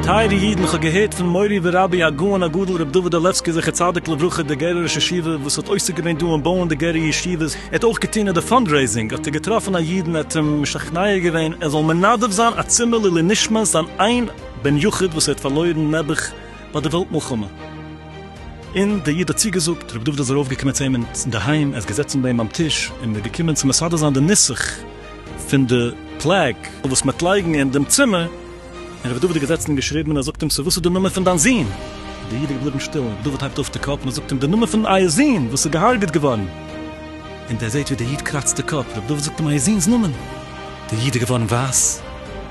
טייערע אידן, איך האב געהערט פון מורי ורבי הגאון הגדול ר' דוד דולעווסקי זכר צדיק לברכה דער גערער ראש ישיבה וואס האט עוסק געווען דא אין בויען די גערער ישיבות, ער האט אויך געטון אט די פאנדרעיזינג, האט ער געטראפן א איד און האט אים משכנע געווען ער זאל מנדב זיין א צימעלע לנשמת זיין איין בן יחיד וואס ער האט פארלוירן נעבעך ביי די וועלט מלחמה, און דער איד האט צוגעזאגט, רבי דוד איז ארויף געקומען צו אים אינדערהיים, ער איז געזעצן ביי אים ביים טיש, און מען איז געקומען צו מסדר זיין די נוסח פון די פלעק וואס מען וועט לייגן אין דעם צימער, און רבי דוד האט געזעצן און געשריבן, און ער זאגט אים, סא וואס איז די נאמען פון דיין זון? דער איד איז געבליבן שטיל, און רבי דוד הייבט אויף די קאפ און ער זאגט אים, די נאמען פון אייער זון וואס איז געהארגעט געווארן. און דער זעט ווי דער איד קראצט די קאפ, רבי דוד זאגט אים אייער זון'ס נאמען, דער איד איז געווארן ווייס,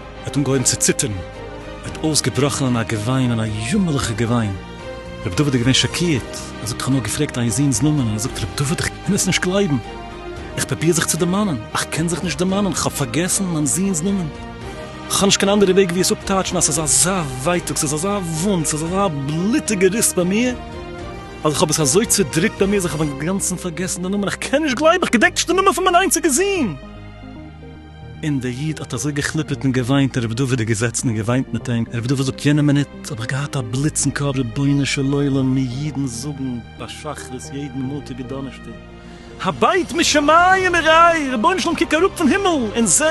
ער האט אנגעהויבן צו ציטערן, ער האט אויסגעבראכן אין א געוויין, אין א יאמערליכע געוויין, ר' דוד איז געווען שאקירט, ער זאגט איך האב נאר געפרעגט אייער זוהן'ס נאמען, ער זאגט ר' דוד איך קען עס נישט גלייבן, איך פרוביר זיך צו דערמאנען, איך קען זיך נישט דערמאנען, איך האב פארגעסן מיין זוהן'ס נאמען, איך האב נישט קיין אנדערע וועג ווי עס אפטייטשן אז ס'איז אזא ווייטאג, ס'איז אזא וואונד, ס'איז אזא בלוטיגע ריס ביי מיר, אז איך האב עס אזוי צודרוקט ביי מיר אז איך האב אינגאנצן פארגעסן די נאמען, איך קען נישט גלייבן, איך געדענק נישט די נאמען פון מיין איינציגע זוהן! און דער איד האט אזוי געכליפערט און געוויינט און רבי דוד איז געזעצן און געוויינט מיט אים, און רבי דוד זאגט יענע מינוט האב איך געהאט א בליץ אין קאפ, רבונו של עולם מיר אידן זאגן ביי שחרית יעדן מאנטאג און דאנערשטאג הבית משמים און ריי רבונו של עולם קוק אראפ פון הימל און זע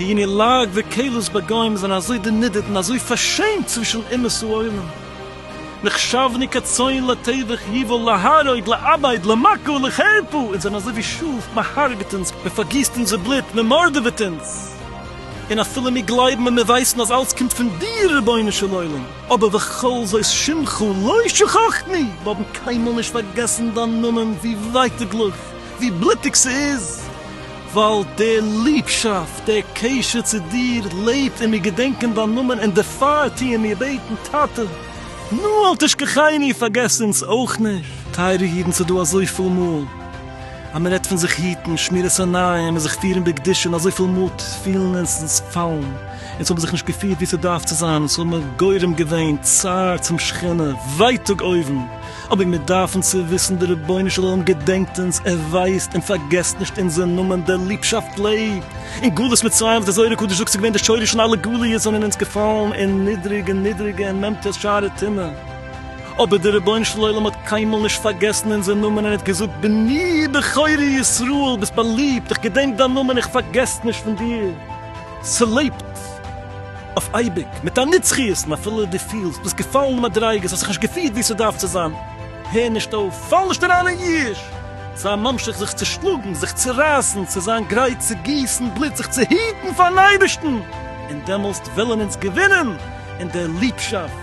ווי מיר לעג וקלס ביי גוים זענען אזוי דערנידערט און אזוי פארשעמט צווישן אומות העולם. נחשבני כצאן לטבח יבול להרוג לאבד למכה לחרפה, אונז זענען אזוי ווי שאף, מען הרג'ט אונז, מען פארגיסט אונזער בלוט, מען מארדעוועט אונז, און אפילו מיר גלייבן און מיר ווייסן אז אלץ קומט פון דיר רבונו של עולם, אבער וכל זאת שמך לא שכחתני, מיר האבן קיינמאל נישט פארגעסן דיין נאמען ווי ווייטאגליך, ווי בלוטיג ס'איז. ווייל די ליבשאפט, די קשר צו דיר לעבט און מיר געדענקען דיין נאמען און דערפאר טוען מיר בעטן, טאטע, נא אל תשכחני, פארגעס אונז אויך נישט. טייערע אידן, ס'איז דא אזויפיל מאל אז מען רעדט פון זיך היטן, שמירת עיניים, און זיך פירן בקדושה, און אזויפיל מאל פילן אונז אונז פאלן, אונז האבן זיך נישט געפירט ווי ס'דארף צו זיין, אונז האבן גורם געווען צער צום שכינה, ווייטאג אויבן. אבער מיר דארפן צו וויסן דער רבונו של עולם געדענקט אונז, ער ווייסט און פארגעסט נישט אונזער נאמען, דער ליבשאפט לעבט. אין גלות מצרים וואס דער זוהר הקדוש זאגט ס'געווען דער שורש פון אלע גלויות זענען אונז געפאלן אין נידריגע נידריגע און ממתות שערי טומאה, אבער דער רבונו של עולם האט קיינמאל נישט פארגעסן אונזער נאמען און ער האט געזאגט בני בכורי ישראל ביסט באליבט איך געדענק דיין נאמען איך פארגעס נישט פון דיר. ס'לעבט אויף אייביג מיט א נצחיות און אפילו דו פילסט ביסט געפאלן מדריגות האסט זיך נישט געפירט ווי ס'דארף צו זיין, הער נישט אויף, פאל נישט אריין אין ייאוש, זיי ממשיך זיך צו שלאגן, זיך צו רייסן, צו זיין גרייט צו גיסן בלוט, זיך צו היטן פאר'ן אייבערשטן, און דעמאלסט וועלן אונז געווינען אין דער ליבשאפט.